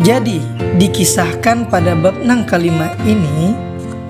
Jadi, dikisahkan pada bab nang kalima ini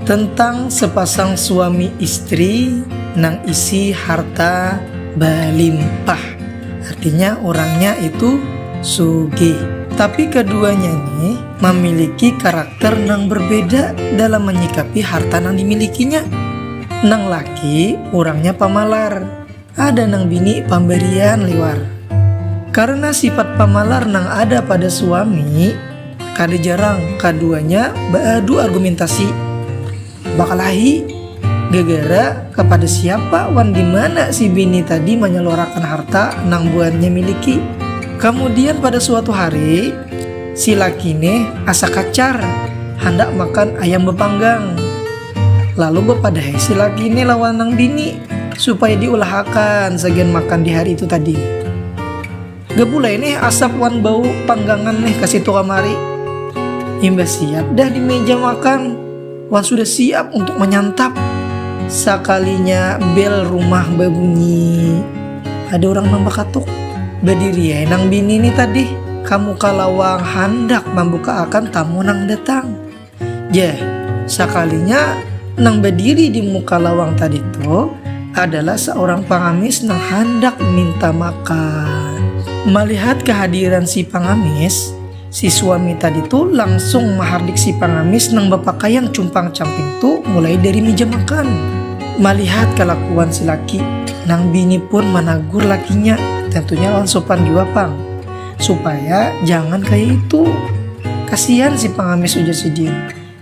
tentang sepasang suami istri nang isi harta balimpah. Artinya orangnya itu sugih. Tapi keduanya ini memiliki karakter nang berbeda dalam menyikapi harta nang dimilikinya. Nang laki orangnya pamalar, Ada nang bini pambarian liwar. Karena sifat pamalar nang ada pada suami, kada jarang kaduanya baadu argumentasi, bakalahi, gegara kapada siapa wan di mana si bini tadi manyaluarakan harta nang buhannya miliki. Kamudian pada suatu hari, si laki neh asa kacar handak makan ayam bapanggang. Lalu bepadahai si laki ini lawan nang bini supaya diulahakan sagian makan di hari itu tadi. Gapulai nih asap wan bau panggangan nih ke situ kamari. Imbas siap dah di meja makan wan sudah siap untuk menyantap. Sakalinya bel rumah berbunyi. Ada orang nang bakatuk. Badiri nang bini ini tadi kamu kalawang handak membuka akan tamu nang datang. Jeh, sakalinya nang berdiri di muka lawang tadi tuh adalah seorang pengamis nang hendak minta makan. Melihat kehadiran si pengamis, si suami tadi tuh langsung menghardik si pengamis nang berpakaian cumpang camping tuh mulai dari meja makan. Melihat kelakuan si laki, nang bini pun menegur lakinya, tentunya lawan sopan jua pang. Supaya jangan kayak itu. Kasihan si pengamis ujar si jin.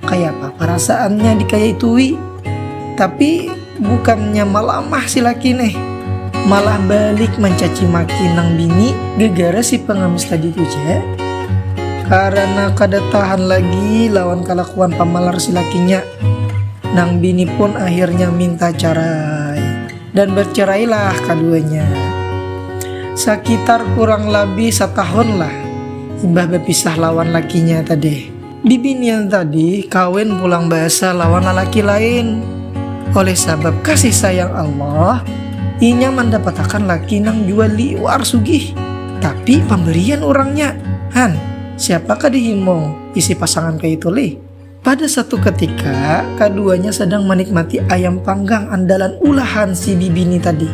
Kayak apa perasaannya dikayak wi. Tapi bukannya malamah si laki nih. Malah balik mencaci maki nang bini gegara si pengamis tadi tuh je. Karena kada tahan lagi lawan kelakuan pamalar si lakinya. Nang bini pun akhirnya minta cara Dan bercerailah kaduanya. Sakitar kurang labih satahunlah imbah bapisah lawan lakinya tadih. Bibinian tadih kawin pulang baasa lawan lalaki lain. Oleh sabab kasih sayang Allah, inya mandapatakan laki nang jua liwar sugih, tapi pamberian urangnya. Han, siapakah dihimung isi pasangan kaitu lih? Pada satu ketika, kaduanya sedang menikmati ayam panggang andalan ulahan si bibi ni tadi.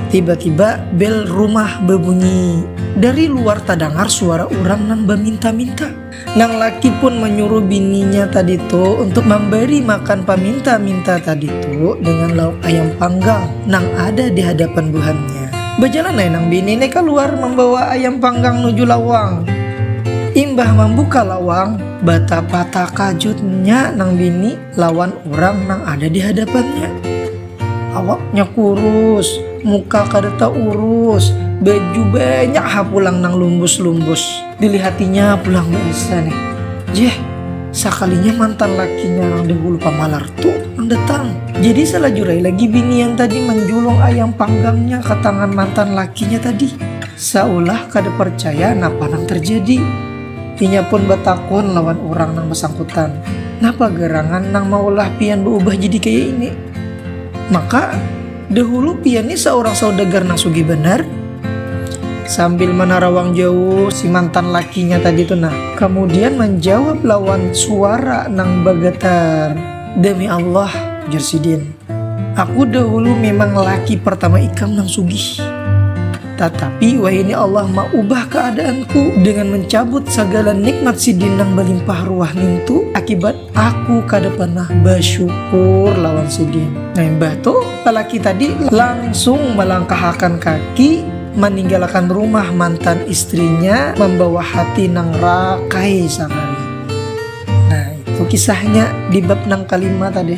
Tiba-tiba bel rumah bebunyi. Dari luar tadangar suara urang nang baminta-minta. Nang laki pun menyuruh bininya tadi tu untuk memberi makan paminta-minta tadi tu dengan lauk ayam panggang nang ada di hadapan buhannya. Bejalan ai nang bini ni keluar membawa ayam panggang nuju lawang. Imbah membuka lawang, Batapa takajutnya nang bini lawan urang nang ada di hadapannya. Awaknya kurus, muka kada taurus, baju banyak ha pulang nang lumbus-lumbus. Dilihatinya pulang baasa nih, jeh sakalinya mantan lakinya nang dahulu pamalar tu nang datang. Jadi salajurai lagi bini yang tadi manjulung ayam panggangnya ka tangan mantan lakinya tadi, saulah kada parcaya napa nang tarjadi. Inya pun batakun lawan urang nang basangkutan, Napa garangan nang maulah pian baubah jadi kaya ini? Maka, dahulu pian ni saurang saudagar nang sugih banar? Sambil manarawang jauh si mantan lakinya tadi tu nah. Kamudian manjawab lawan suara nang bagatar, Demi Allah, ujar sidin. Aku dahulu memang laki pertama ikam nang sugih. Tatapi wahini Allah maubah keadaanku dengan mencabut segala nikmat sidin nang belimpah ruah nintu akibat aku kada pernah bersyukur lawan sidin. Nah imbah tu lelaki tadi langsung melangkahakan kaki meninggalkan rumah mantan istrinya membawa hati nang rakai sakali. Nah itu kisahnya di bab nang kelima tadi.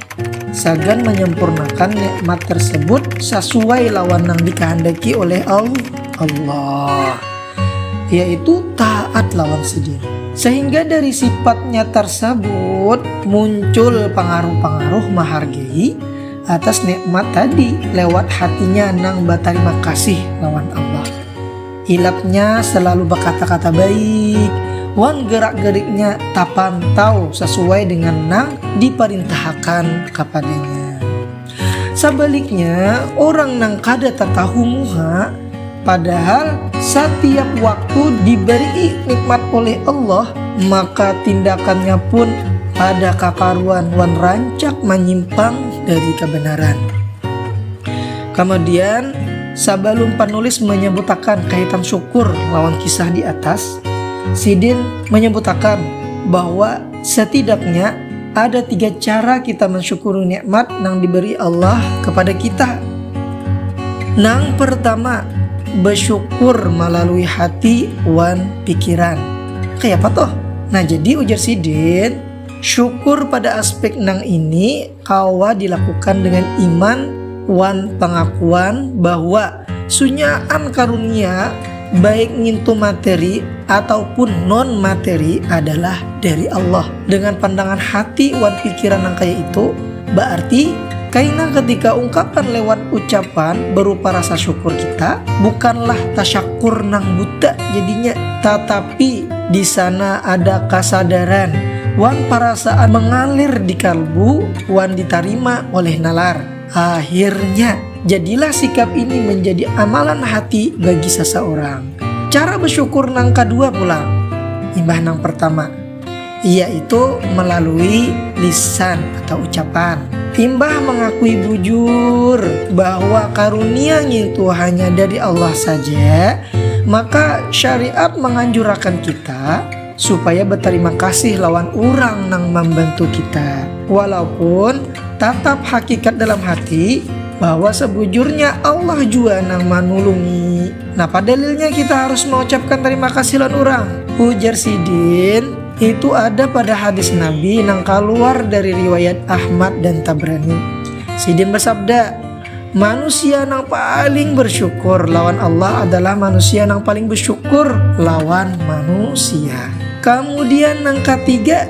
Sagan manyempurnakan nikmat tersebut sasuai lawan nang dikahandaki oleh Allah, yaitu taat lawan Sidin. Sahingga dari sifatnya tarsabut muncul pangaruh-pangaruh mahargai atas nikmat tadi lewat hatinya nang batarima kasih lawan Allah. Ilapnya selalu bakata-kata baik wan gerak-geriknya tapantau sasuai dengan nang diparintahakan kapadanya. Sabaliknya, urang nang kada tatahu muha, padahal satiap waktu dibari'i nikmat oleh Allah, maka tindakannya pun kada kakaruan wan rancak manyimpang dari kabanaran. Kamudian. Sabalum panulis manyabutakan kaitan syukur lawan kisah di atas, sidin manyabutakan bahwa satidaknya ada tiga cara kita mansyukuri nikmat nang diberi Allah kapada kita. Nang partama, basyukur malalui hati wan pikiran. Kayapa tuh? Nah, jadi ujar sidin, syukur pada aspek nang ini Kawa dilakukan dengan iman wan pangakuan bahwa sunyaan karunia, baik ngintu materi ataupun non-materi, adalah dari Allah. Dengan pandangan hati wan pikiran nang kaya itu, baarti kaina ketika ungkapan lewat ucapan berupa rasa syukur kita bukanlah tasyakur nang buta jadinya, tatapi. Tapi, di sana ada kasadaran wan parasaan mangalir di kalbu wan ditarima oleh nalar. Akhirnya, jadilah sikap ini manjadi amalan hati bagi sasaurang. Cara basyukur nang kadua pulang, imbah nang partama. yaitu melalui lisan atau ucapan. Imbah mengakui bujur bahwa karunia ngintu hanya dari Allah saja, maka syariat manganjurakan kita supaya batarima kasih lawan urang nang mambantu kita, walaupun tatap hakikat dalam hati bahwa sabujurnya Allah jua nang manulungi. Napa dalilnya kita harus mengucapkan terima kasih lawan urang? Ujar sidin, itu ada pada hadis Nabi nang kaluar dari riwayat Ahmad dan Tabrani. Sidin bersabda, Manusia nang paling bersyukur lawan Allah adalah manusia nang paling bersyukur lawan manusia. Kamudian nang katiga,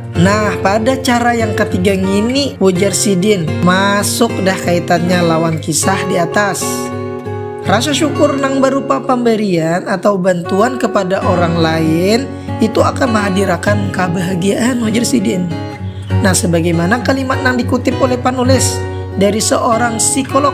Nah, pada cara yang ketiga ngini, ujar sidin, masuk dah kaitannya lawan kisah di atas. Rasa syukur nang barupa pambarian atau bantuan kepada orang lain itu akan mahadirakan kabahagiaan, ujar sidin. Nah, sebagaimana kalimat nang dikutip oleh panulis dari seorang psikolog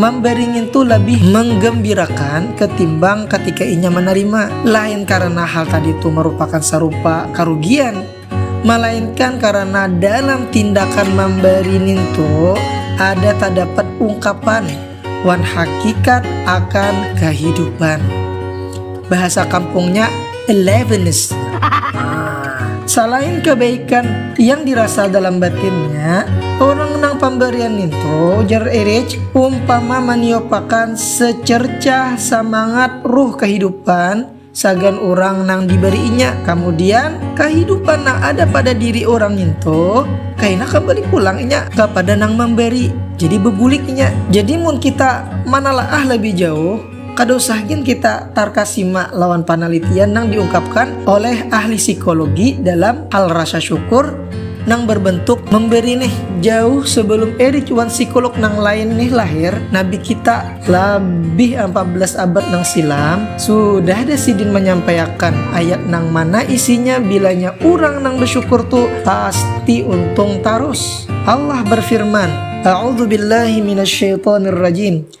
Mambari ngintu labih manggambirakan katimbang katika inya manarima, lain karana hal tadi tu marupakan sarupa karugian, malainkan karana dalam tindakan mambari nintu ada tadapat ungkapan wan hakikat akan kahidupan. Bahasa kampungnya. Elevenist. Nah, salain kebaikan yang dirasa dalam batinnya, orang nang pambarian nintu jar Erich umpama maniopakan secercah samangat ruh kahidupan sagan orang nang dibariinya. Kamudian, kahidupan nang ada pada diri orang nintu kaina kambali pulang inya kapada nang mambari. Jadi bebulik inya. Jadi mun kita manalaah lebih jauh, Kada usah gin kita tarkasima lawan panalitian nang diungkapkan oleh ahli psikologi dalam hal rasa syukur nang berbentuk memberi nih. Jauh sebelum Eric wan psikolog nang lain nih lahir, nabi kita, labih ampat belas abad nang silam, sudah ada sidin manyampaiakan ayat nang mana isinya bilanya urang nang besyukur tu pasti untung tarus. Allah berfirman, A'udzubillahi minasyaitonirrajim.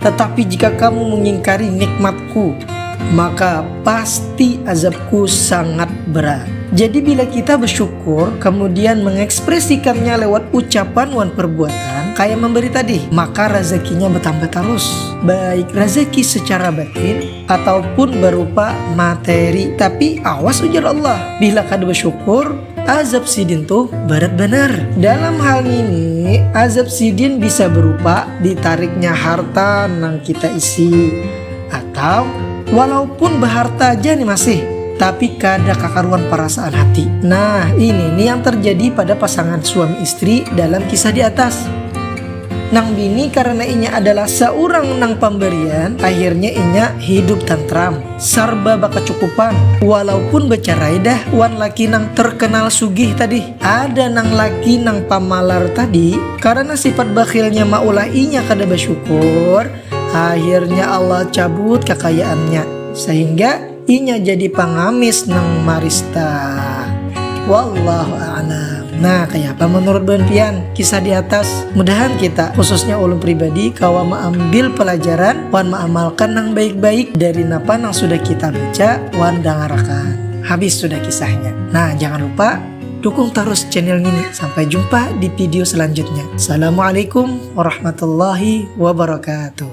Tatapi jika kamu mengingkari nikmat-Ku, maka pasti azab-Ku sangat berat. Jadi bila kita bersyukur, kemudian mengekspresikannya lewat ucapan wan perbuatan, kaya memberi tadi, maka razakinya bertambah tarus. Baik razaki secara batin ataupun berupa materi. Tapi awas ujar Allah, bila kada bersyukur, Azab sidin tuh berat banar. Dalam hal ini, azab sidin bisa berupa ditariknya harta nang kita isi atau walaupun beharta aja nih masih tapi kada kakaruan perasaan hati. Nah, ini nih yang terjadi pada pasangan suami istri dalam kisah di atas. Nang bini karena inya adalah seorang nang pemberian, akhirnya inya hidup tentram. Sarba bakacukupan, walaupun bacarai dah wan laki nang terkenal sugih tadi. Ada nang laki nang pamalar tadi, karana sifat bakhilnya maulah inya kada basyukur, akhirnya Allah cabut kakayaannya, sahingga inya jadi pangamis nang marista. Wallahu a'lam. Nah, kayapa manurut buhan pian kisah di atas? Mudahan kita, khususnya ulun pribadi, kawa maambil palajaran wan ma'amalkan nang baik-baik dari napa nang sudah kita baca wan dangarakan. Habis sudah kisahnya. Nah, jangan lupa dukung tarus channel ngini. Sampai jumpa di video selanjutnya. Assalamualaikum warahmatullahi wabarakatuh.